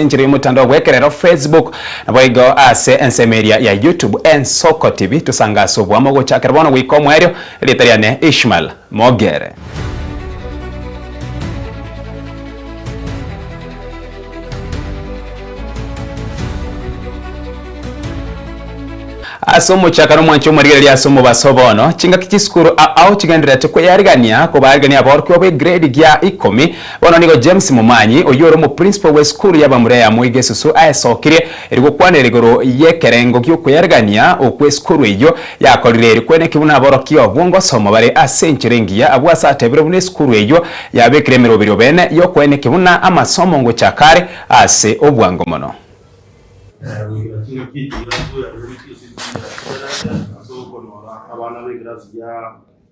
enchera y'omotandao bw'ekerero Facebook, naboigo ase ensemo eria ya YouTube Ensoko TV. Tosanga ase oboamo gochakera bono goika omoerio, erieta riane Ishmael Mogere. Ase omochaka nomwanche omorigereria ase omobaso bono, chingaki chisukuru ao chigendererete kweyarigania kobarigania aborokigwa b'egrade gia ikomi Bono nigo James Momanyi, oyio ore omoprinsipal bw'esukuru ya bamura ya Moi Gesusu aesokirie eri gokwanera igoro y'ekerengo gi'okweriarigania okwo esukuru eyio yakorire eri kweneki buna aborokigwa obwo ngosoma bare ase enchera engiya abwo ase atebire buna esukuru eyio yabekire emeroberi obene y'okweneki buna amasomo ngochaka are ase obwango mono.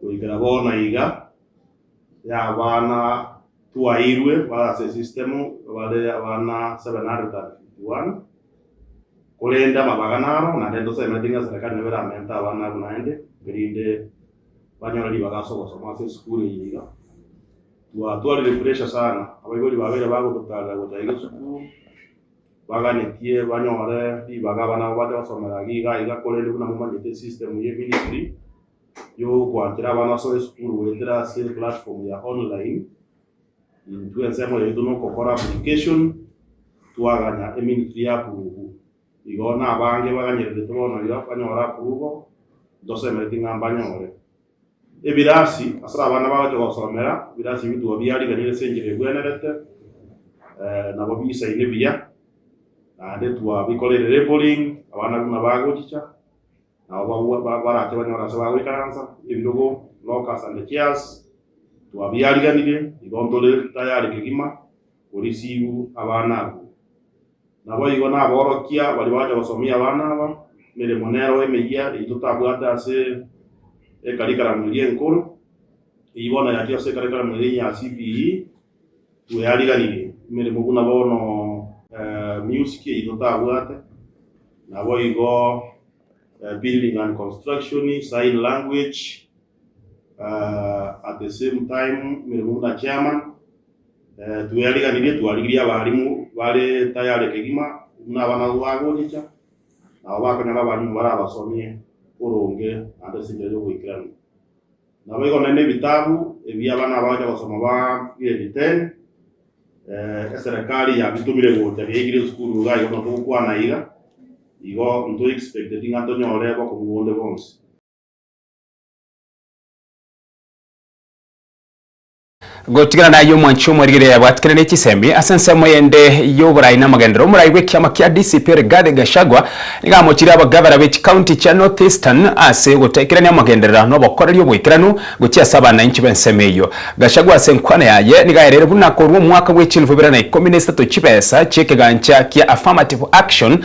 Goikera bono iga, y'abana twairwe bare ase esistemu bare abana 751, korende amabaga naro, naende tosemeti ng'a serikari nabo eramente abana abwo naende, erinde banyore ribaga ase ogosoma ase esukuru eye iga. Twatwarire pressure sana, abaibori babere bagototaarera gocha iga esukuru. Baganetie banyore ribaga abana abo bache gosomera iga iga korende buna momanyete esystem ye ministry y'ogwanchera abana ase esukuru goetera ase platform ya online intwe ensemo yaito nokokora application twaganya eministry ya approve igo nabange baganyereretwe bono iga banyore approval ntosemereti ng'a mbanyore Ebirasi, ase abana bagocha gosomera, ebirasi ebio tibwo biariganire ase enchera egwenerete, eh, nabo bisaine buya, naende twabikoreire labelling, abana buna bagochicha, nabo bagwa- ba- barache banyore ase bagoikaransa, ebirogo, lockers and chairs, twabiariganirie, igo ntore tayari kegima, korisiu abana abwo. Naboigo naborokia baria bagocha gosomia abana aba emeremo nero emeyia eyio totabwate ase ekarikaramu eria enkoro, eyio bono yachire ase ekarikaramu eria enyia ya CPE, nigo yariganirie emeremo buna bono music eyio totabwate, naboigo building and construction, sign language. uh, at the same time emeremo buna chairman uh, twariganirie twarigirie abarimu bare tayare kegima buna abana abo bagochicha nabo bakonyora abarimu bare abasomie oronge ande sinja yogoikerania nabo igo nende ebitabu ebi abana abagocha gosoma ba grade 10 eh, eserikali yabitumire gocha biaigire esukuru iga igo notogokwana iga igo nto expected ng'a tonyore bokomu bonde bonsi Gotigana naye omwanchi omwarigereria yabwatikana ne chisemi ase ensemo eyende y'oborai na amagenderero, omorai bw'ekiama kia DCP Rigathi Gachagua nigo amochirie abagavana be chikaunti chia North Eastern ase ogotaikerania amagenderero na obokoreri oboikeranu gochia ase abanainchi b'ensemo eyio. Gachagua ase enkwana yaye nigo aereire buna korwa omwaka bwe chilifu ibere na ikomi na isato chibesa chi'ekegancha kia Affirmative Action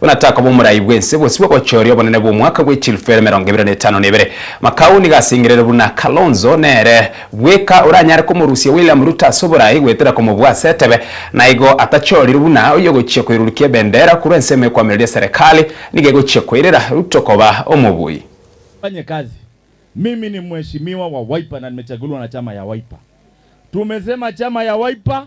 Buna takoba omorai bw'ense gose bw'obochoria obonene bw'omwaka bw'echilfu ere emerongo ebere na etano na ebere, Makau nigo asengerere buna Kalonzo nere bweka oranyare komorusia William Ruto ase oborai goetera komobua ase etebe naigo atachorire buna oyogochia koirurukia ebendera korwa ensemo ekoamereria eserekali nigo egochia koirera Ruto koba omobui. Fanye kazi. Mimi ni mheshimiwa wa Wiper na nimechaguliwa na chama ya Wiper. Tumesema chama ya Wiper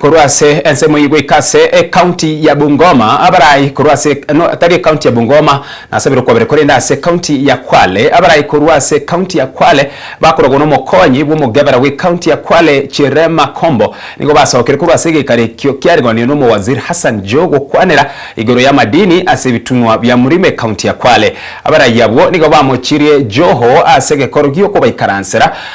korwa ase ensemo eyio goika ase ecounty ya Bungoma abarai korwa ase no tari ecounty ya Bungoma nasabire okwabera korende ase ecounty ya Kwale abarai korwa ase ecounty ya Kwale bakorogwa nomokonyi bw'omogebera bw'ecounty ya Kwale Chere Makombo nigo basokire korwa ase egekari ekio kiarigonire n'omowaziri Hassan Joho gokwanera igoro y'amadini ase ebitunwa bia murima ecounty ya Kwale abarai abwo nigo bamochirie Joho ase egekoro gi'okobaikaransera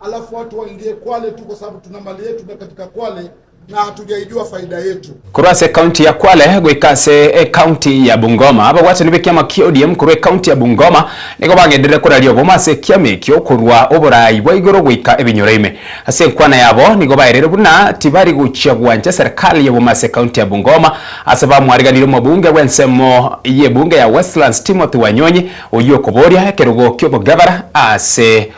alafu watu waingie Kwale tu kwa sababu tuna mali yetu na katika Kwale na hatujaijua faida yetu. Korwa ase ekaunti ya Kwale goika ase ekaunti ya Bungoma, abagwachani b'ekiama kia ODM korwa ekaunti ya Bungoma nigo bagenderere koraria obomo ase ekiama ekio korwa oboraai bwa igoro goika ebinyoro ime. Ase enkwana yabo nigo bairire buna tibari gochia gwancha serikali y'obomo ase ekaunti ya Bungoma ase bamwariganire omobunge bw'ensemo y'ebunge ya Westlands Timothy Wanyonyi oyio okoboria ekerogo ki'obogabera ase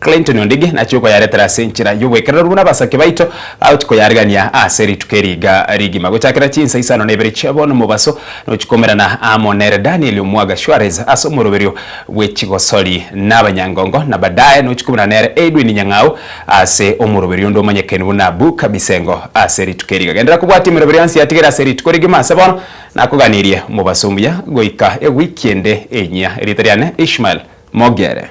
Clinton Ondigi nachie okoyaretera ase enchera y'oboekerero buna abasake baito bagotchi koyarigania ase rituko eri iga rigima. Gochakera chinsa isano na ibere chia bono mobaso nochikomerana amo nere Daniel Omuaga Suarez ase omoroberio bwe chigosori na abanyangongo na badaye nochikomerana nere Edwin Nyang'au ase omoroberio onde omanyekeni buna Book Bisengo ase rituko eri iga. Genderera kobwatia emeroberio yonsi yatigere ase rituko rigima ase bono nakoganirie mobaso omuya goika ewiki ende enyia. Erieta riane Ishmael Mogere.